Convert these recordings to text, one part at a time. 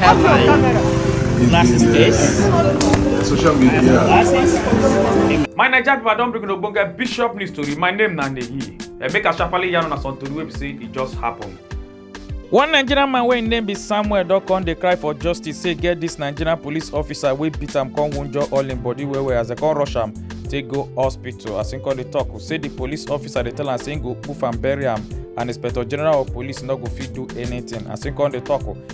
have my glasses case. Social media. Glasses. My Naija people, I don bring una ogbonge bishop news tori. My name na Nehi. Eh, make I sharply yarn una some tori wey be say e just happen. One Nigerian man wey im name be Samuel don come dey cry for justice say get dis Nigerian police officer wey beat am come wunjure all im body well well as dem come rush am take go hospital. As im come dey talk, say di police officer dey tell am say im go poof am bury am and inspector general of police no go fit do anything. As im come dey talk,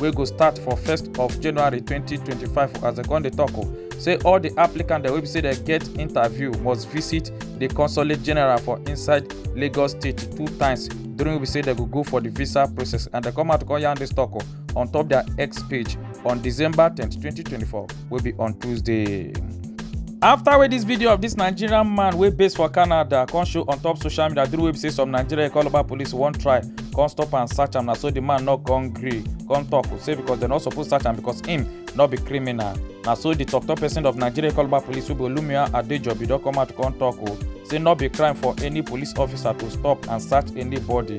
wey go start for 1st of january 2025 as dem come dey tok o say all di applicants dem wey be say dem get interview must visit di consulate general for inside lagos state two times during wey be say dem go go for di visa process and dem come out come yarn dis tok on top dia x page on december 10 2024 wey be on tuesday after wey dis video of dis nigerian man wey base for canada come show on top social media during wey be say some nigerian calabar police wan try come stop am search am na so di man no come gree come tok say becos dem no suppose search am becos im no be criminal na so di tok tok pesin of nigeria calabar police wey be olumia adejobi don come out come tok o say no be crime for any police officer to stop and search anybody.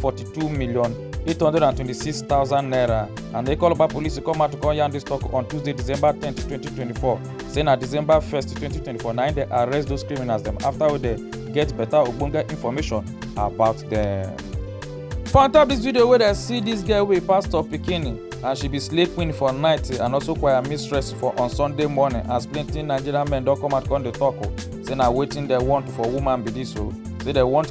42 million 826,000 naira and Ikoloba police come out to come yarn this talk on Tuesday, December 10, 2024. Say na December 1st, 2024 na im dey arrest those criminals dem after wey dey get better ogbonge information about them. For on top this video wey dey see this girl wey pastor pikin and she be slay queen for night and also choir mistress for on Sunday morning as plenty Nigerian men don come out come dey talk o say na wetin dem want for woman be this o say dem want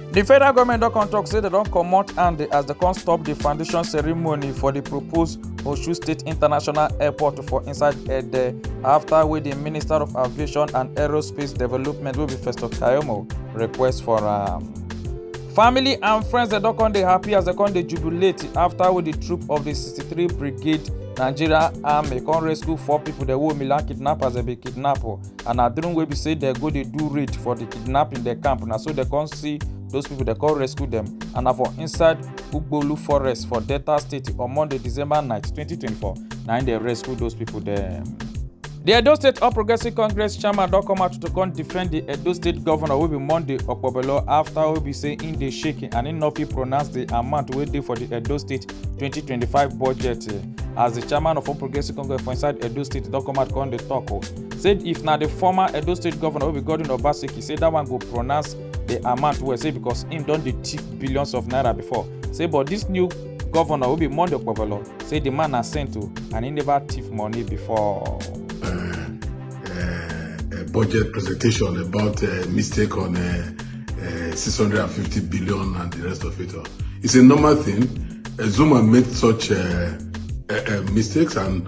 di federal goment don come tok say dem don comot hand as dem come stop di foundation ceremony for di proposed osun state international airport for inside ede afta wey di minister of aviation and aerospace development wey be festo kayomo request for am. Um, family and friends dem don come dey happy as dem come dey jubilate after wey di troop of di 63 brigade nigeria army come rescue four pipo dem wey omila kidnappers dem bin kidnap and na during wey be say dem go dey do raid for the kidnapping dem camp na so dem come see those people dem come rescue dem and na for inside ugbolu forest for delta state on monday december night 2024 na im dem rescue those people dem. The Edo State All Progressive Congress chairman don come out to come defend the Edo State governor wey be Monday Okpobelo after wey be say im dey shaking and im no fit pronounce the amount wey dey for the Edo State 2025 budget. As the chairman of All Progressive Congress for inside Edo State don come out come dey talk o. say if na the former edo state governor wey be godwin obaseki say that one go pronounce the amount well say because him don dey thief billions of naira before say but this new governor wey be monday okpebholo say the man na saint o and he never thief money before. uh, budget presentation about uh, mistake on uh, uh, 650 billion and the rest of it all. It's a normal thing. Uh, Zuma made such uh, uh, uh, mistakes and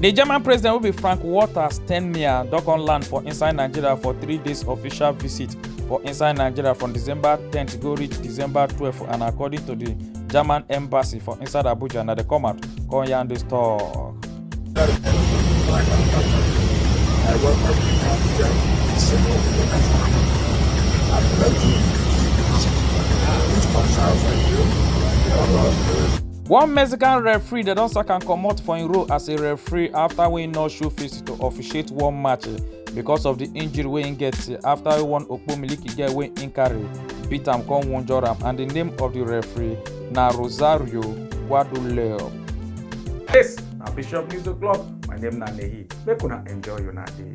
di german president wey be frank walter steinmeier don come land for inside nigeria for three days official visit for inside nigeria from december ten go reach december twelve and according to di german embassy for inside abuja na dey come out come yarn dis tok. One Mexican referee dem don sack am comot for im role as a referee after wey no show face to officiate one match eh, because of the injury wey im get eh, after one Okpomiliki girl wey im carry beat am come wunjure am and the name of the referee na Rosario Guaduleo. This na Bishop News O'Clock, my name na Nehi, make una enjoy una day.